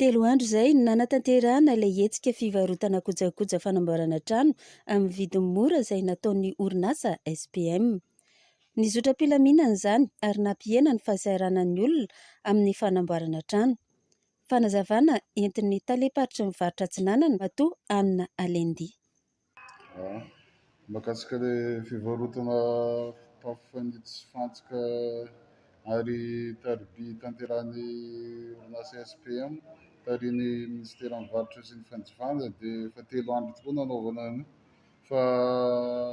Telo andro izay no nanatanterahana ilay hetsika fivarotana kojakoja fanamboarana trano amin'ny vidiny mora izay nataon'ny orinasa SPM. Nizotra am-pilaminana izany ary nampihena ny fahasahiranan'ny olona amin'ny fanamboarana trano. Fanazavana entin'ny talem-paritry ny faritra Atsinanana, Matoa Anna Alendi. Mahakasika ilay fivarotana fitafy fanitsy sy fantsika ary tariby tanterahan'ny orinasa SPM tarihin'ny minisiteran'ny varotra sy ny fanjifanana dia efa telo andro tokoa no nanaovana an'io fa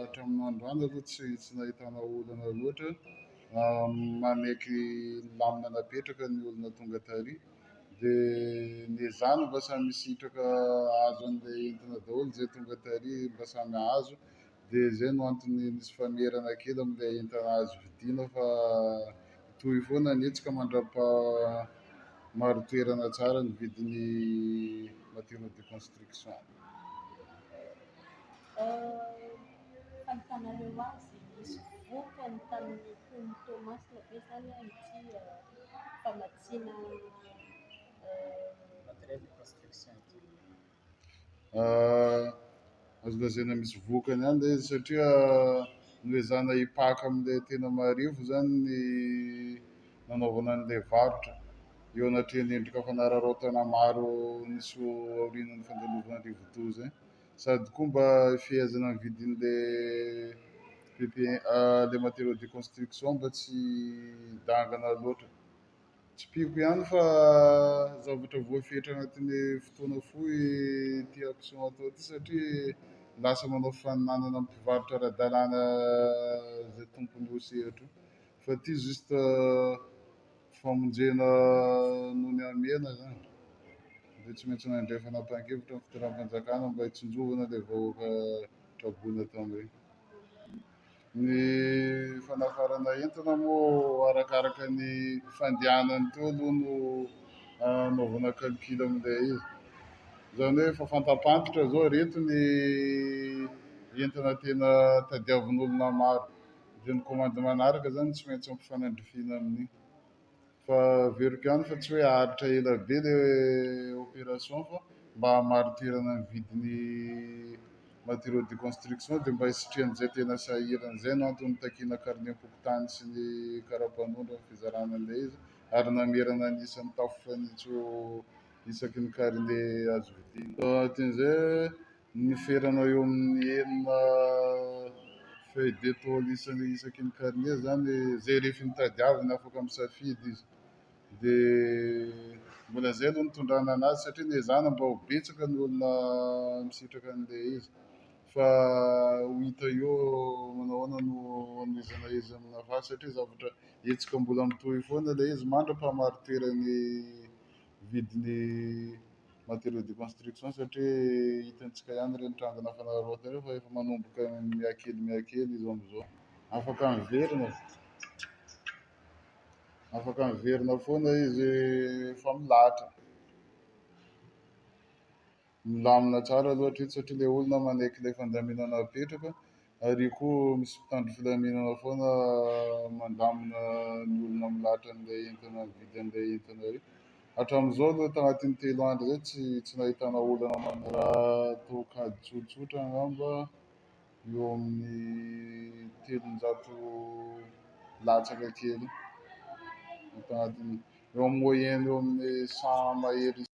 hatramin'ny androany aloha tsy tsy nahitana olana loatra, manaiky ny lamina napetraka ny olona tonga tary. Dia ny ezahana mba samy hisitraka hahazo an'ilay entana daholo izay tonga tary mba samy hahazo, dia izay no antony misy famerana kely amin'ilay entana azo vidiana fa hitohy foana ny hetsika mandram-paha- marin-toerana tsara ny vidin'ny matériaux de construction. Azo lazaina misy vokany ihany ilay izy satria noezahana hipaka amin'ilay tena marivo izany ny nanaovana an'ilay varotra. Eo anatrehan'ny endrika fanararaotana maro nisy aorianan'ny fandalovana rivodoza izay. Sady koa mba fehezana ny vidin'ilay PP- ilay matériaux de construction mba tsy hidangana loatra. Tsipiko ihany fa zavatra voafetra anatin'ny fotoana fohy ity action atao ity satria lasa manao faninanana amin'ny mpivarotra ara-dalàna izay tompon'io sehatra io. Fa ity juste famonjena noho ny hamehana izany. Dia tsy maintsy nandray fanapahan-kevitra ny fitoeram-panjakana mba hitsinjovana ilay vahoaka traboina tamin'ireny. Ny fanafarana entana moa arakaraka ny fandehanany teo aloha no anaovana calcul amin'ilay izy. Izany hoe efa fantam-pantitra izao ireto ny entana tena tadiavin'olona maro. Dia ny kaomandy manaraka izany no tsy maintsy ampifanandrifiana amin'iny. Fa averiko ihany fa tsy hoe haharitra ela be le opération fa mba hamaritirana ny vidin'ny matériaux de construction dia mba hisitrihan'izay tena sahirana. Izay no antony nitakiana karnem-pokontany sy ny karapanondro amin'ny fizarana an'ilay izy ary namerana ny isan'ny tafo fanitso isaky ny karne azo vidiana. Taty an'izay, Ny ferana eo amin'ny enina feuille de tôle isany isaky ny karne izany izay rehefa nitadiavina afaka misafidy izy. Dia mbola izay aloha no nitondrana anazy satria niezahana mba ho betsaka ny olona misitraka an'ilay izy fa ho hita eo manao ahoana no hanomezana izy amina vase satria zavatra hetsika mbola mitohy foana ilay izy mandra-pahamariteran'ny vidin'ny matériaux de construction satria hitantsika ihany ireny tranga nafanaraotina ireny fa efa manomboka mihakely mihakely izao amin'izao. Afaka miverina, afaka miverina foana izy fa milahatra. Milamina tsara aloha hatreto satria ilay olona manaiky ilay fandaminana apetraka ary io koa misy mpitandro filaminana foana mandamina ny olona milahatra an'ilay entana mividy an'ilay entana ireny. Hatramin'izao aloha tanatin'ny telo andro izay tsy tsy nahitana olana manao raha toa kajy tsotsotra angamba eo amin'ny telonjato latsaka kely eo tanatin'ny eo amin'ny moyenne eo amin'ny cent mahery isa-.